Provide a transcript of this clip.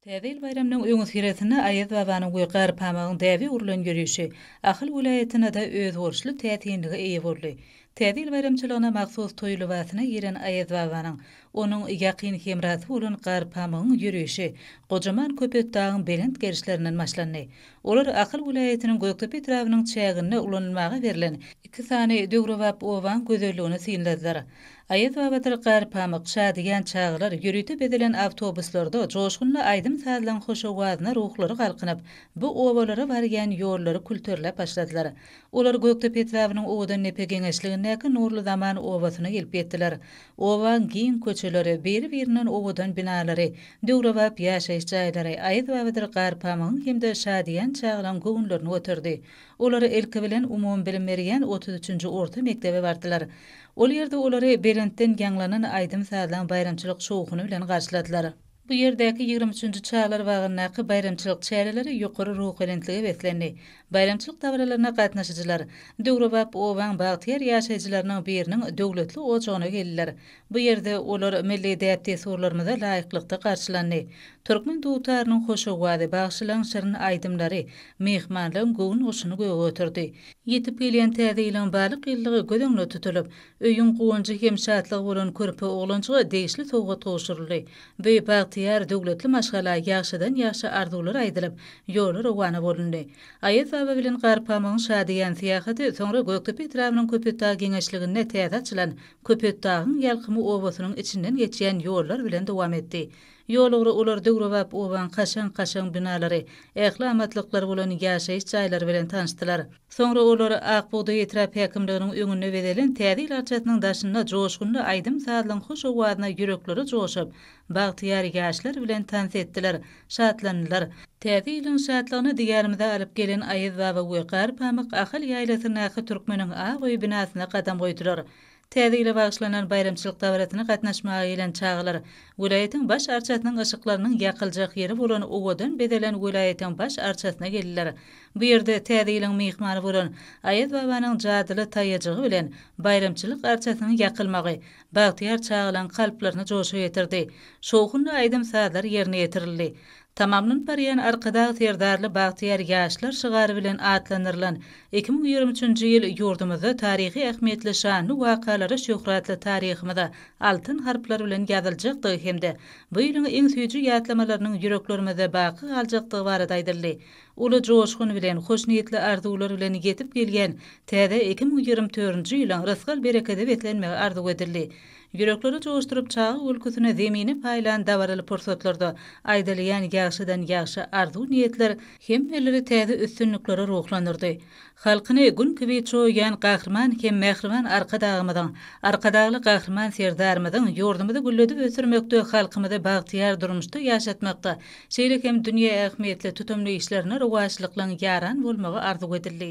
Täze ýyl baýramynyň öňüsyrasynda Aýaz babanyň we Garpamygyň däbe urlan ýörişi Ahal welaýatynda-da özboluşly täsinlige eýe boldy. Täze ýyl baýramçylygyna mahsus toý lybasyna giren Aýaz babanyň, onuň ýakyn hemrasy bolan Garpamygyň ýörişi gojaman Köpetdagyň belent gerişlerinden başlandy. Olar Ahal welaýatynyň Gökdepe etrabynyň çäginde ulanylmaga berlen iki sany döwrebap obaň gözelligini synladylar. Aýaz babadyr Garpamyk, Şadyýan çagalar, ýörite bezelen awtobuslarda joşgunly aýdym-sazlaň hoş owazyna ruhlary galkynyp, bu obalara barýan ýollary külterläp başladylar. Olar Gökdepe etrabynyň Owadandepe geňeşligindäki Nurly zaman obasyna gelip ýetdiler. Obaň giň köçeleri, biri-birinden owadan binalary, döwrebap ýaşaýyş jaýlary Aýaz babadyr Garpamygyň hem-de Şadyýan çagalaň göwünlerini göterdi. Olar ilki bilen umumybilim berýän otuz üçünji orta mekdebe bardylar. Ol ýerde olary belentden ýaňlanan aýdym-sazlaň baýramçylyk şowhuny bilen garşyladylar. Bu ýerdäki ýigrimi üçünji çagalar bagyndaky baýramçylyk çäreleri ýokary ruhubelentlige beslendi. Baýramçylyk dabaralaryna gatnaşyjylar döwrebap obaň bagtyýar ýaşaýjylarynyň biriniň döwletli ojagyna geldiler. Bu ýerde olar milli däp-dessurlarymyza laýyklykda garşylandy. Türkmen dutarynyň hoş owazy, bagşylaryň şirin aýdymlary myhmanlaryň göwün guşuny göge göterdi. Ýetip gelýän Täze ýylyň balyk ýyllygy göz öňünde tutulyp, öýüň guwanjy hem şatlygy bolan körpe oglanjyga degişli sowgat gowşuryldy. Bü bagtyýar, döwletli maşgala ýagşydan-ýagşy arzuwlar aýdylyp, ýola rowana bolundy. Aýaz baba bilen Garpamygyň şadyýan syýahaty soňra Gökdepe etrabynyň Köpetdag geňeşliginde täze açylan Köpetdagyň Ýalkymy obasynyň içinden geçýän ýollar bilen dowam etdi. Ýolugra olar döwrebap obaň kaşaň-kaşaň binalary, ähli amatlyklary bolan ýaşaýyş jaýlary bilen tanyşdylar. Soňra olar Ak bugdaý etrap häkimliginiň öňünde bezelen Täze ýyl arçasynyň daşynda joşgunly aýdym-sazlaryň hoş owazyna ýürekleri joşup, Bagtyýar ýaşlar bilen tans etdiler, şatlandylar. Täze ýylyň şatlygyny diýarymyza alyp gelen Aýaz baba we Gar pamyk Ahal ýaýlasyndaky Türkmeniň ak öýi binasyna gadam goýdular. Täze ýyla bagyşlanan baýramçylyk dabarasyna gatnaşmaga gelen çagalar welaýatyň baş arçasynyň yşyklarynyň ýakyljak ýeri bolan owadan bezelen welaýatyň baş arçasyna geldiler. Bu ýerde Täze ýylyň myhmany bolan Aýaz babanyň jadyly taýajygy bilen baýramçylyk arçasynyň ýakylmagy bagtyýar çagalaryň kalplaryny joşa getirdi. Şowhunly aýdym-sazlar ýerine ýetirildi. Tamamlanyp barýan Arkadag Serdarly bagtyýar ýaşlar şygary bilen atlandyrylan iki müň ýigrimi üçünji ýyl ýurdumyzda taryhy ähmiýetli şanly wakalara şöhratly taryhymyza altyn harplar bilen ýazyljakdygy hem-de bu ýylyň iň süýji ýatlamalarynyň ýüreklerimizde baky galjakdygy barada aýdyldy. Uly joşgun bilen, hoşniýetli arzuwlar bilen ýetip gelýän täze iki müň ýigrimi törünji ýylyň rysgal-berekede beslenmegi arzuw edildi. Ýürekleri joşduryp, çaga gülküsine zemini paýlan dabaraly pursatlarda aýdylýan ýagşydan-ýagşy arzuw-niýetler hemmeleri täze üstünliklere ruhlandyrdy. Halkyny gün kibi çoýýan Gahryman hem mähriban Arkadagymyzyň, Arkadagly Gahryman Serdarymyzyň ýurdumyzy gülledip ösdürmekde, halkymyzy bagtyýar durmuşda ýaşatmakda, şeýle hem dünýä ähmiýetli tutumly işlerine rowaçlyklyň ýaran bolmagy arzuw edildi.